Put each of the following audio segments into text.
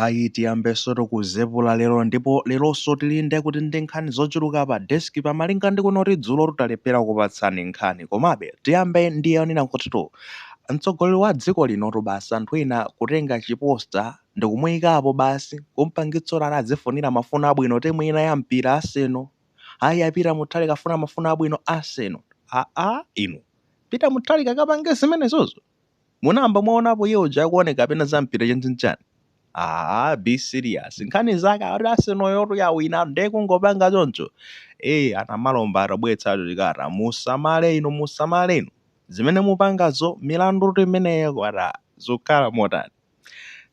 Ayi tiyambeso tikuzipepula lero ndipo leronso tili nde kuti ndi nkhani zochuluka pa desk pamalinga ndi kunoti dzulotu talephera kukupatsani nkhani komabe tiyambe ndi yonena kutitu mtsogoleri wa dziko linotu basi anthu ena kutenga chi poster ndikumuyikapo basi kumpangitsa kuti azifunira mafuno abwino timu ina ya mpira Arsenal ayi a Peter Mutharika afuna mafuno abwino Arsenal aa inu Peter Mutharika akapange zimenezozo? Munayamba mwaonapo iye uja akuoneka kapena za mpira chanichani? Ah, be serious. Nkhani zake akuti Arsenalyotu yawina ndiye kungopanga choncho. Eh, a Namalomba atabweretsatu chikalata. Musamale inu, musamale inu. Zimene mupangazo milandutu imeneyo kwata. Zikukhala motani?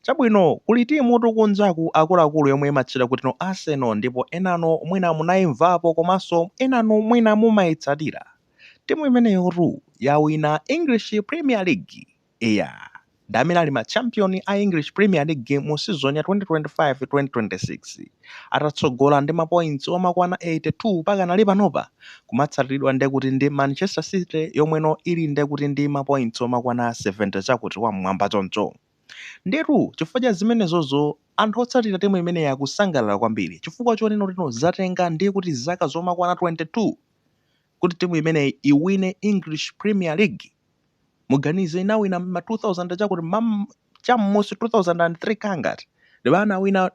Chabwino, kuli timutu kunjaku akuluakulu yomwe imatchedwa kuti no Arsenal ndipo enanu mwina munaimvapo komanso enanu mwina mumaitsatira. Timu imeneyotu yawina English Premier League. Eya, ndi amene ali ma champion a English Premier League mu season ya 2025-2026 atatsogola ndi mapoints omakwana 82 pakanali panopa akumatsatiridwa nde kuti ndi Manchester City yomweno ili nde kuti ndi mapoints omakwana 70 chakuti wam'mwamba choncho. Ndiyetu chifukwa cha zimenezozo anthu otsatira timu imeneyi akusangalala kwambiri chifukwa chonena kuti no zatenga ndiye kuti zaka zomakwana 22 kuti timu imeneyi iwine English Premier League? Muganize inawina ma 2000 chakuti cham'munsi 2003 kangati ndi pomwe anawina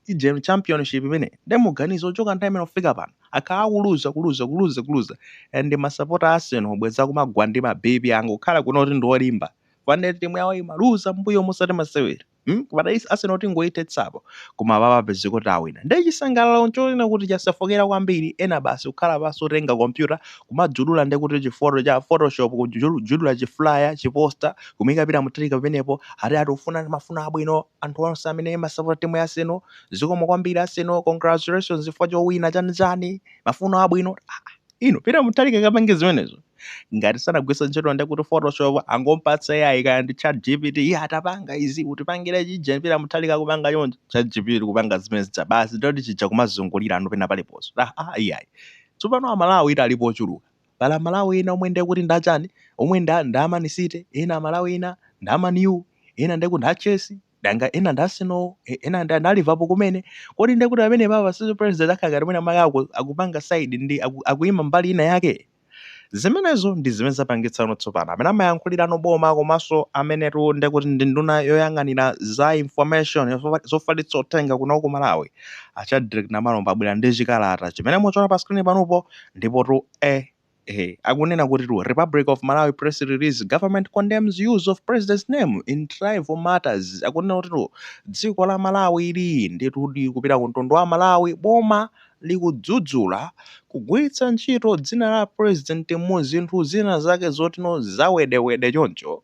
uje championship imeneyi nde muganize kuchoka nthawi imene kufika pano akhala akuluza kuluza kuluza kuluza and masapota a Arsenal bwenzi akumagwa ndi ma BP angokhala kuno kuti ndi olimba fans timu yawo imaluza mbuyomu osati masewera Hmm? Apa atati Arsenal tingoithetsapo koma apa papezeka kuti awina. Ndiye chisangalalo nchonena kuti chasefukira kwambiri ena basi kukhala pansi kutenga kompyuta kumajudula ndiye kuti chifoto cha photoshop kujudula chi flyer chiposta kumuika Peter Mutharika pamenepo ati akufuna mafuno abwino anthu onse amene amasapota timu ya Arsenal zikomo kwambiri Arsenal congratulations chifukwa chowina chani chani mafuno abwino ah, ah. inu Peter Mutharika akapange zimenezo ngati sanagwisa ntchito ndi kuti photoshop angompatsa AI kaya ndi chat gpt iye atapanga izi utipangire chija Peter Mutharika kupanga chonje chat gpt kupanga zimene zija basi ndoti chija kumazungulira anu pena paliponso ah, ah, AI tsopano amalawi ita alipo ochuluka pali amalawi ena omwe ndiye kuti ndachani omwe nda nda Man City ena amalawi ena nda Man U ena ndiye kuti nda Chelsea danga ena ndi a Arsenal e- ena ndi a Liverpool kumene kodi ndekuti amene apapaso president akhala ngati mwinamwake aku- akupanga side ndi aku- akuyima mbali ina yake zimenezo ndi zimene zapangitsano tsopano amene amayankhulirano boma komanso amenetu ndekuti ndi nduna yoyang'anira za information yofa- zofalitsa uthenga kuno ku malawi a Shadric Namalomba abwera ndi chikalata chimene mukuchiona pa screen panopo ndipotu e Ehe, akunena kutitu Republic of Malawi press release government condemns use of president's name in tribal matters. Akunena kutitu dziko la Malawi ili ndithudi kupita ku mtundu wa Malawi boma likudzudzula kugwiritsa ntchito dzina la president mu zinthu zina zake zotino zawedewede choncho.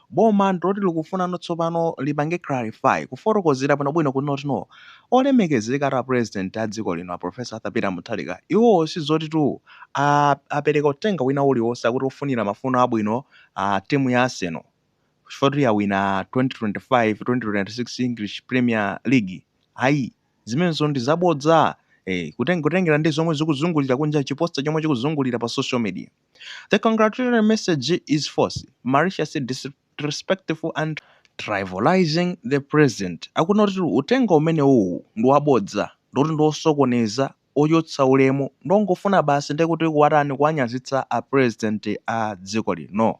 boma ndiloti likufuna no tsopano lipange clarify, kufotokozera bwinobwino kunena kuti no, olemekezekatu a president a dziko lino a Prof Arthur Peter Mutharika iwowo sizotitu aah apereka uthenga wina uliwonse akuti ofunira mafuno abwino aah timu ya Arsenal chifukwa choti yawina 2025, 2026 English Premier League ayi zimenezo ndi zabodza eeh kutengera ndi zomwe zikuzungulira kunja chi poster chomwe chikuzungulira pa social media. The congratulatory message is false, malicious, disrespectful and trivializing the president akunena kuti uthenga umenewuwu ndi wabodza ndithu ndi osokoneza, ochotsa ulemu ndi ongofuna basi ndiye kuti kuwatani, kuwanyazitsa a president a dziko lino.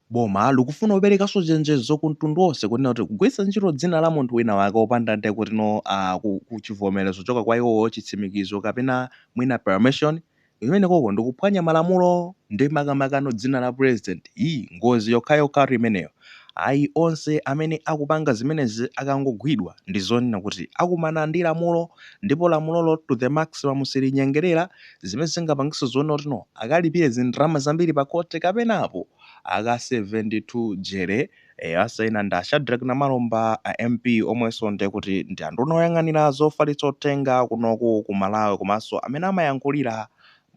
Boma likufuna kuperekanso chenjezo ku mtundu onse kunena kuti kugwiritsa ntchito dzina la munthu wina wake opanda nde kuti no uh, chivomerezo kuchoka kwa iwowo chitsimikizo kapena mwina permission imenekoko ndikuphwanya malamulo ndi makamaka no dzina la president ii ngozi yokhayokhatu imeneyo ayi onse amene akupanga zimenezi akangogwidwa ndizonena kuti akumana ndi lamulo ndipo lamulolo to the maximum silinyengerera zimene zingapangitse zoona kuti no akalipire zindrama zambiri pa khoti kapena apo akaseven2 jere eh, asaina ndi a Shadrack Namalomba a MP omwenso ndiye kuti ndi anduna oyang'anira zofalitsa uthenga kunoku ku Malawi komanso amene amayankhulira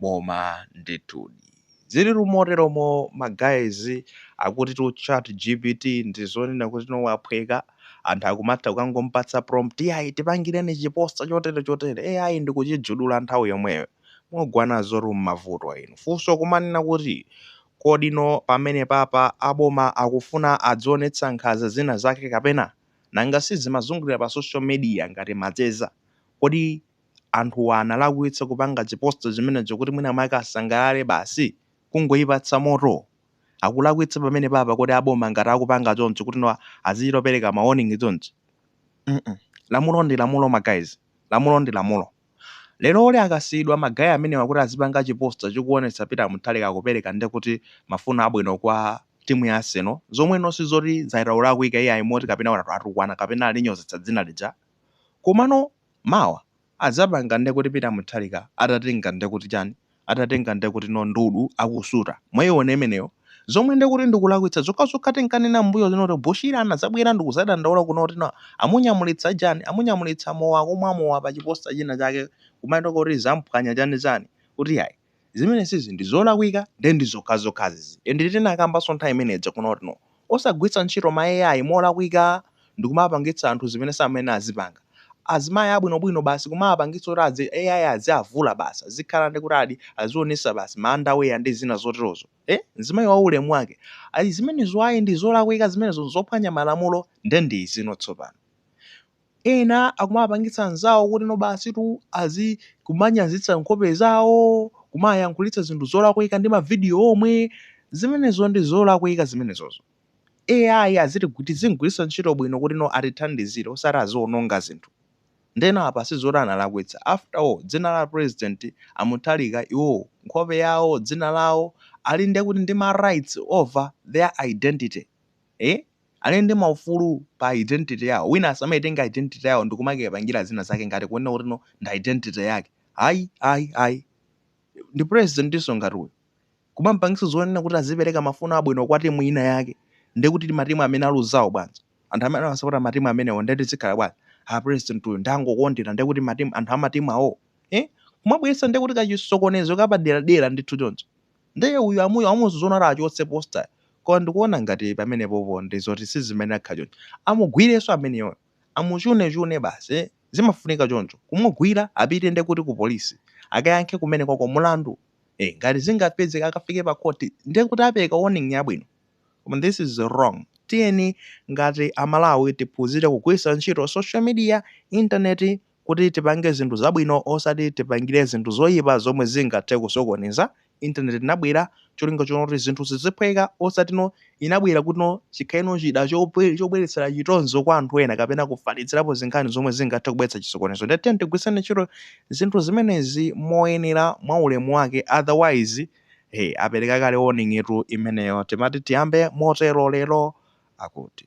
boma ndithudi. Ziliru moteromo ma guys akutitu chat gpt ndizonena kuti no waphweka, anthu akumatha kukangompatsa prompt yayi tipangireni chi poster chotere chotere ai ndikuchijudula nthawi yomweyo. Mugwa nazotu mmavuto inu. Funso kumanena kuti kodi no pamenepapa aboma akufuna azionetsa nkhanza zina zake kapena? Nanga sizimazungulira pa social media ngati macheza. Kodi anthu analakwitsa kupanga chi poster chimenecho kuti mwina mwake asangalale basi? kungoipatsa moto? akulakwitsa pamenepapa kodi aboma ngati akupanga choncho kuti no azichita opereka ma warning chonchi? mm lamulo ndi lamulo ma guys lamulo ndi lamulo. leroli akasiyidwa ma guy amenewa kuti azipanga chi poster chikuonetsa peter mutharika akupereka ndekuti mafuno abwino kwa timu ya arsenal zomwe no sizoti zaita kulakwika iyayi moti kapena atukwana kapena alinyozetsa dzina lija komano mawa adzapanga nde kuti peter mutharika atatenga nde kuti chani atatenga nde kuti no ndudu akusuta mwaiona imeneyo zomwe nde kuti ndikulakwitsa zokhazokha tinkanena mbuyo muno kuti bushiri anadzabwera ndikudzadandaula kuno kuti no amunyamulitsa chani amunyamulitsa mowa akumwa mowa pa chiposter china chake kumaitoka kuti zamphwanya chani chani kuti yayi zimenesizi ndi zolakwika nde ndi zokhazokhazizi ende tinakambanso nthawi imeneija kuno kuti no osagwiritsa ntchito ma AI molakwika ndikumawapangitsa anthu zimene samayenera azipanga, azimayi abwinobwino basi kumawapangitsa kuti adzi AI aziavula basi azikhala ndi kuti adi azionesa basi ma underwear ndi zina zoterozo eh mzimayi wa ulemu wake ayi zimenezo ayi ndi zolakwika zimenezo nzophwanya malamulo nde ndi izino tsopano Ena akumawapangitsa anzawo kuti no basitu azi kumanyazitsa nkhope zawo, kumayankhulitsa zinthu zolakwika ndi ma video omwe, zimenezo ndi zolakwika zimenezozo. AI azitigwi tiziigwiritsa ntchito bwino kuti no atithandizire osati aziononga zinthu. Ndeno apa sizoti analakwitsa, after all dzina la president a Mutharika iwo nkhope yawo, dzina lawo ali ndekuti ndi ma rights over their identity. Eeh? Ali ndi maufulu pa identity yawo. Wina asamaitenga identity yawo ndikumakayipangira zina zake ngati kunena kuti no ndi identity yake. Ayi, ayi, ayi. Ndi presidentinso ngati uyu. Kumamupangitsa zonena kuti azipereka mafuno abwino kwa timu ina yake. Ndiye kuti matimu amene aluzawo bwanji? Anthu amene amasapota matimu amenewo ndiye azikhala bwanji? Ah, president uyu ndiye angokondera ndiye kuti matimu anthu a matimu awowo. Eh? Kumabweretsa ndiye kuti kachisokonezo kapaderadera ndithu choncho. Ndiye uyu amuyu amuuza zoona kuti achotse poster koma ndikuona ngati pamenepopo ndi zoti si zimene akhala choncho. Amugwirenso ameneyoyo. Amuchune chune basi eh. Zimafunika choncho. Kumugwira apite ndiye kuti ku police. Akayankhe kumenekoko mulandu. Eh ngati zingapedzeke akafike pa court ndiye kuti apereka warning yabwino. Koma this is wrong. Tiyeni ngati a Malawi tiphunzire kugwiritsa ntchito social media, internet kuti tipange zinthu zabwino osati tipangire zinthu zoyipa zomwe zingathe kusokoneza, internet inabwera cholinga chonena kuti zinthu ziziphweka osati no inabwera kuti no chikhale no chida chobwe chobweretsera chitonzo kwa anthu ena kapena kufalitsirapo zinkhani zomwe zingathe kubweretsa chisokonezo nde tiyeni tigwiritseni ntchito zinthu zimenezi moyenera mwa ulemu wake otherwise eh apereka kale warning tu imeneyo timati tiyambe motero lero akuti